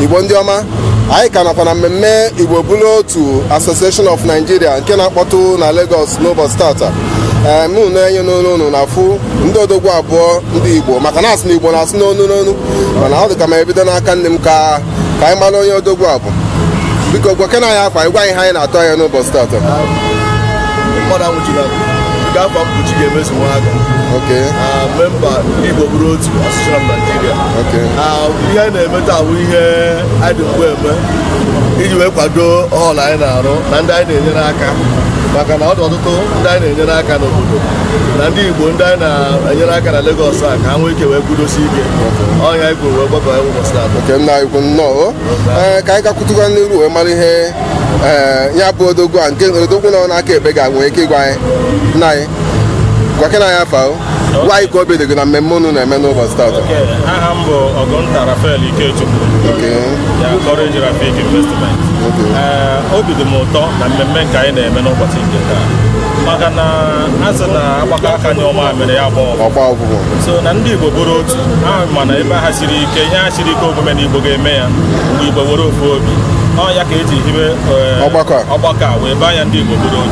igbo ndị ọma anyị ka nọkwa na mmemme igbo bụrụ otu association of nigeria nke na-akpọtụ na lagos n'ụbọchị taata ee unu nee anya n'iru unu na-afụ ndị odogwu abụọ ndị igbo maka na asị na igbo na-asụ n'onu n'onu mana ọ dị ka m ebido n'aka nri m ka ka anyị mara onye odogwu a bụ biko gwakene anyị afa gị gwa anyị ihe anyị na-atụ anya n'ụbọchị taata mmadụ anwụchiri anwụ nke afọ mkpuchi ga-emezu nwa aka oke na memba igbo bụrụ otu association of nigeria ihe anyị na-eme taa bụ ihe anyị dị mbụ eme iji wee kwado ọl anyị na-arụ na ndị anyị na-enyere aka maka na ọ dị ọtụtụ ndị anyị na-enyere aka n'obodo na ndị igbo ndị anyị na-enyere aka na Lagos a ka ha nwee ike wee kwudosi ike ọ nya anyị kwuru wee gbakọ ụbọchị taa oke nna anyị ukwu nnọọ ee ka anyị gakwutụkwa n'iru wee mara ihe ee ya bụ odogwu a nke odogwu nọ n'aka ekpe ga-enwe ike ịgwa anyị nna anyị gwakene anyị afa gị gwa anyị ka obi dị gị na mmemme unu na-eme n'ụbọchị taata aha m bụ ọgụnta rafael ikechukwu ya courage rafik investment eh, obi dị m ụtọ na mmemme nke anyị na-eme n'ụbọchị nke taa maka na a sị na a gbakọọ aka nyụọ mamịrị ya agbaa ụfụfụ so na ndị igbo bụrụ otu ha ma na ebe ha siri ike ihe ha siri ike omume na igbo ga-eme ya mgbe igbo were ofu obi ọ ya ka e ji hibe eh, ọgbakọ a wee baa ya ndị igbo bụrụ otu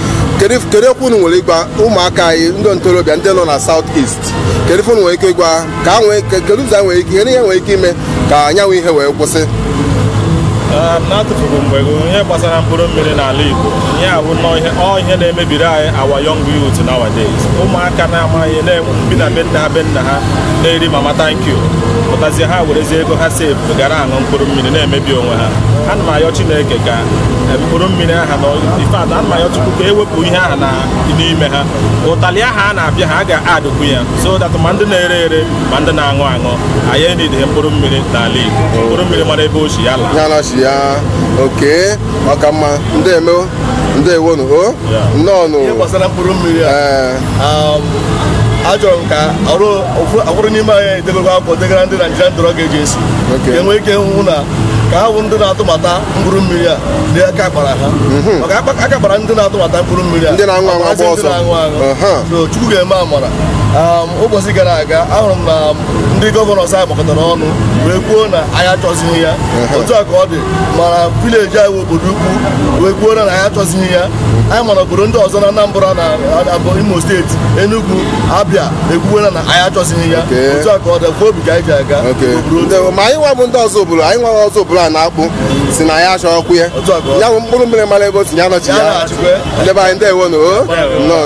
kedu kedu okwu unu nwere ịgwa ụmụaka anyị ndị ntorobịa ndị nọ na South East kedu ife unu nwere ike ịgwa ha? ka ha nwee ike kedu ụzọ anyị nwere ike kedu ihe e nwere ike ime ka ya bụ ihe wee kwụsị Ee, n'atụfughị mgbe gị, ihe gbasara mkpụrụ mmiri n'ala Igbo ihe a bụ nnọọ ihe ọ ihe na-emebiri anyị our young youth nowadays ụmụaka na-amaghị na-enwe bi na be nna ha be nna ha na-eri mama thank you pụtazie ha werezie ego ha save gara aṅụ mkpụrụ mmiri na-emebi onwe ha ana m ayọ Chineke ka mkpụrụ mmiri aha na ife ana m ayọ chukwu ka e wepụ ihe aha na n'ime ha ụtalị aha a na-apịa ha a ga-adụkwu ya so that ma ndị na-ere ere ma ndị na-aṅụ aṅụ anyị enidịghị mkpụrụ mmiri n'ala Igbo mkpụrụ mmiri mara ebe o si ya laa ya nọchie ya oke maka mma ndị eme ndeewo nụ o nnọọ nụ ihe gbasara mkpụrụ mmiri a ee um, achọrọ m ka ọrụ ụfọ- ụfọdụ n'ime anyị edebego akwụkwọ degara ndị Nigerian Drug Agency Oke. ka e nwee ike hụ na ka ha bụ ndị na-atụbata mkpụrụ mmiri a na aka kpara ha mhm. maka aka kpara ndị na-atụbata mkpụrụ mmiri a ndị na-aṅụ aṅụ agba ọsọ so Chukwu ga-eme amara um, ụbọchị gara aga ahụrụ m na um, ndị gọvanọs anyị gbakọtara ọnụ wee kwuo na anyị achọzighị ya otu a ka ọ dị ma na village anyị Obodoukwu wee kwuo na anyị achọzighị ya anyị ma na obodo ndị ọzọ na Anambra na Imo steeti Enugu Abia ekwuwela na anyị achọzighị ya otu a ka ọ dịkwa obi ka anyị ji aga ma anyị nwa bụ ndị ọzọ obodo anyị nwa ọzọ obodo a na-akpọ Osina ya achọghịkwu ya ya bụ mkpụrụ mmiri mara ebe o si ya nọchie ya ndị be anyị ndewo nụ nnọọ